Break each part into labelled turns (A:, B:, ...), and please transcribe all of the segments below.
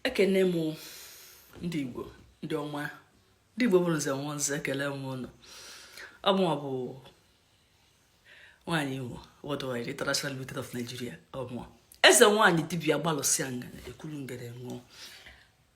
A: ekene m ndị igbo ndị ọma ndị igbo bụrụ nze nwa nze ekele m ụnụ ọ mụwa bụ nwaanyị igbo worldwide international limited of nigeria ọ mụwa eze nwaanyị dibia gbalụsịa ngana ekuru ngere ṅụọ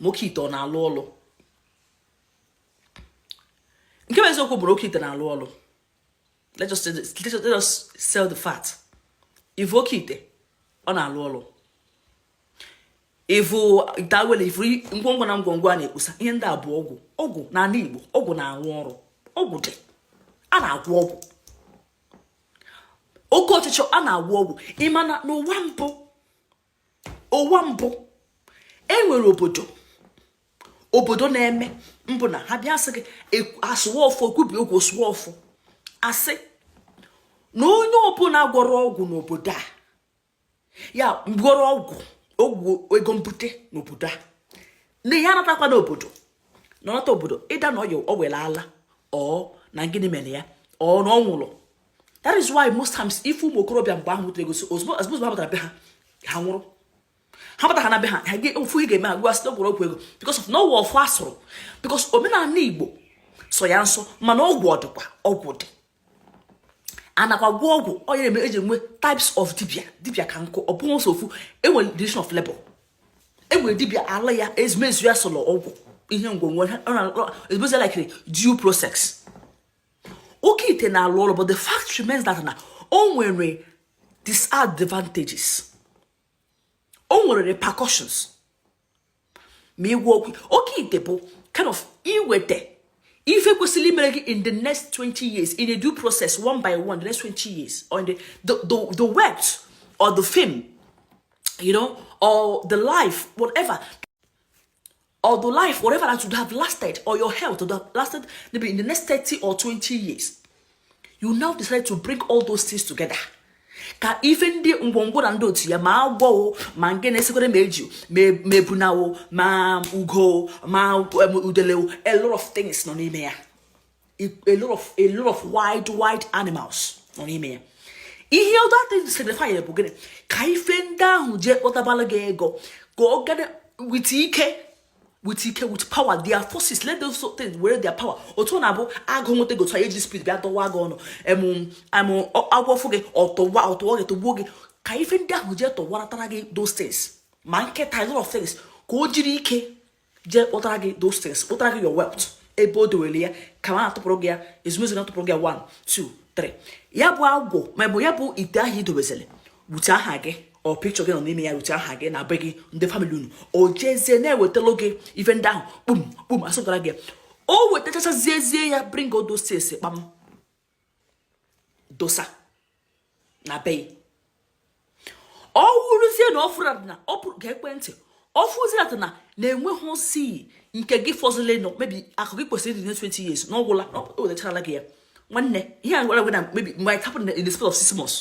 A: ma oke ite ọ na-alụ ọlụ nke bụ eziokwu bụ na oke ite na-alụ ọlụ let us let us sell the fact ivu oke ite ọ na-alụ ọlụ ivu ite awele ivu ngwongwo na ngwongwo a na-ekposa ihe ndị a bụ ọgwụ ọgwụ n'ala Igbo ọgwụ na-arụ ọrụ ọgwụ dị a na-agwọ ọgwụ oke ọchịchọ a na-agwọ ọgwụ ị ma na n'ụwa mbụ ụwa mbụ enwere obodo obodo na-eme mbụ na ha bịa sị gị asụwa ọfọ kwubi okwu sụwa ọfọ asị na onye ọbụla gwọrọ ọgwụ n'obodo a ya gwọrọ ọgwụ ọgwụ ego bute n'obodo a na ya anatakwana obodo na ọ nata obodo ịda na ọya o were ala or na gịnị mere ya or na ọ nwụrụ that is why most times ị fụ ụmụ okorobịa mgbe ahụ nwetara ego ozugbo ozugbo ha batara be ha ha nwụrụ ha batara na be ha ha ofu ị ga-eme agwa site gwọrọ ọgwụ ego because of na ọ wụ ọfọ asụrụ because omenala igbo sọ ya nsọ mana ọgwụ ọdịkwa ọgwụ dị anakwa gwọ ọgwụ onye na-eme eji enwe types of dibia dibia ka nkụ ọ bụghị ofu enwere division of labor enwere dibia ala ya ezumezu ya sọrọ ọgwụ ihe ngwongwo ezumezu ya like due process oke ite na-alụ ọrụ but the fact remains that na o nwere disadvantages o nwere repercussions ma ịgwọ ọgwụ oke ite bụ kind of iweta ife kwesịrị imere gị in the next 20 years in a due process one by one the next 20 years or in the, the, the, the wealth or the fame you know or the life whatever or the life, whatever that would have lasted, or your health would have lasted maybe in the next 30 or 20 years, you now decide to bring all those things together. ka ife ndị ngwongwo na ndị otu ya ma agwọ o ma nke na-esikwere ma eju ma ebuna o ma ugo ma um, udele o a lot of things nọ n'ime ya a lot of a lot of wild wild animals nọ n'ime ya ihe all that signify bụ gịnị ka ife ndị ahụ jee kpọtabara gị ego ka ọ gana with ike with ike with power their forces let those things were their power otu ọ na-abụ agụ nweta gị otu anyị ji speed bịa dọwa gị ọnụ em em agwọ fụ gị ọ tụwa ọ tụwa gị tụgbuo gị ka ife ndị ahụ jee tọwaratara gị those things ma nkịta a lot of things ka o jiri ike jee kpụtara gị those things kpụtara gị your wealth ebe o dowere ya ka ma atụpụrụ gị ya ezumezu na-atụpụrụ gị ya 1 2 3 ya bụ agwọ maọbụ ya bụ ite ahụ i dobezere wute aha gị or picture gị nọ n'ime ya wute aha gị na be gị ndị family unu o jezie na-ewetara gị ife ndị ahụ kpum kpum asụpụtara gị o wetachachazie ya bring all those things kpam dosa na be ọ wụrụzie na ọ fụrụ na ọ pụrụ ga ekwentị ọ fụzie na enweghịzi nke gị fọzile nọ maybe akụ gị kwesịrị ịdị na 20 years na ọ gwụla o wetachala gị ya nwanne ihe a gwara gị na maybe it might happen in the space of six months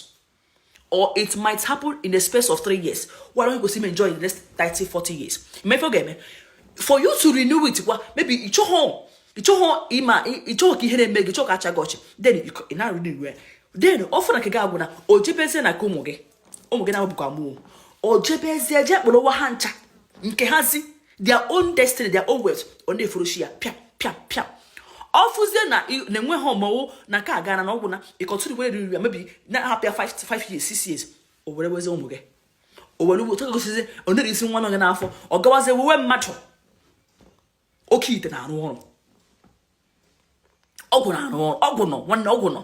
A: or it might happen in the space of three years why don't you go see me enjoy in the next 30 40 years before oge eme for you to renew it kwa maybe you ị chọghọ ị chọghọ ịma ị chọghọ ka ihere mee gị chọọ ka a chịa gị ọchị then ị na renew then ọ fụrụ na nke gị agwụna o jebezie na nke ụmụ gị ụmụ gị na-abụkwa mụ o jebezie jee kpụrụ ụwa ha ncha nke hazi their own destiny their own wealth ọ na-efuruchi ya pịa pịa pịa ọ fụzie na na-enweghị ọmọwụ na nke ha agana na ọ gwụna ị continue wee riri ya maybe na-ahapụ ya 5 years 6 years o werewezie ụmụ gị o were ugbo tọka gosizi ọ nere isi nwa nọ gị n'afọ ọ gawazie wewe mmadụ oke ite na-arụ ọrụ ọgwụ na-arụ ọrụ ọgwụ nọ nwanne ọgwụ nọ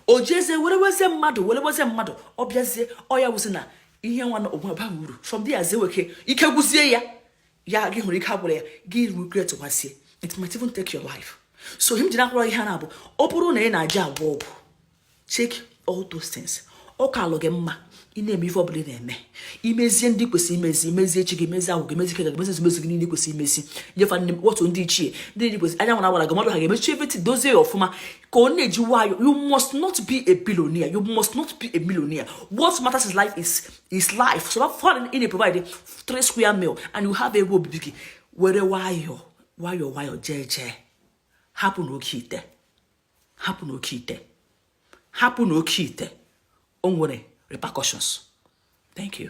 A: o jezie were wezie mmadụ were wezie mmadụ ọ bịazie ọ ya wụzi na ihe nwa na ọgwụ abaghị uru from there zie weke ike gwụzie ya ya gị hụrụ ike agwụrụ ya gị regretwazie it might even take your life so ihe m ji na-akọrọ ihe a na-abụ ọ bụrụ na ị na-eje agwọ ọgwụ check all those things ọ kaalụ gị mma ị na-eme ife ọbụla ị na-eme i mezie ndị kwesịrị imezi i mezie chi gị mezi agwụ gị mezi ike gị mezi ezumezu gị niile kwesịrị imezi nye fa nni otu ndị ichie ndị ji kwesịrị anya nwara gwara gị mmadụ ha ga-emechi everything dozie ya ọfụma ka ọ na-eji nwayọ you must not be a billionaire you must not be a millionaire what matters in life is is life so that far ị na-provide three square meal and you have ebe obibi gị were nwayọ nwayọ nwayọ jeje hapụnụ oke ite hapụnụ oke ite hapụnụ oke ite o nwere repercussions thank you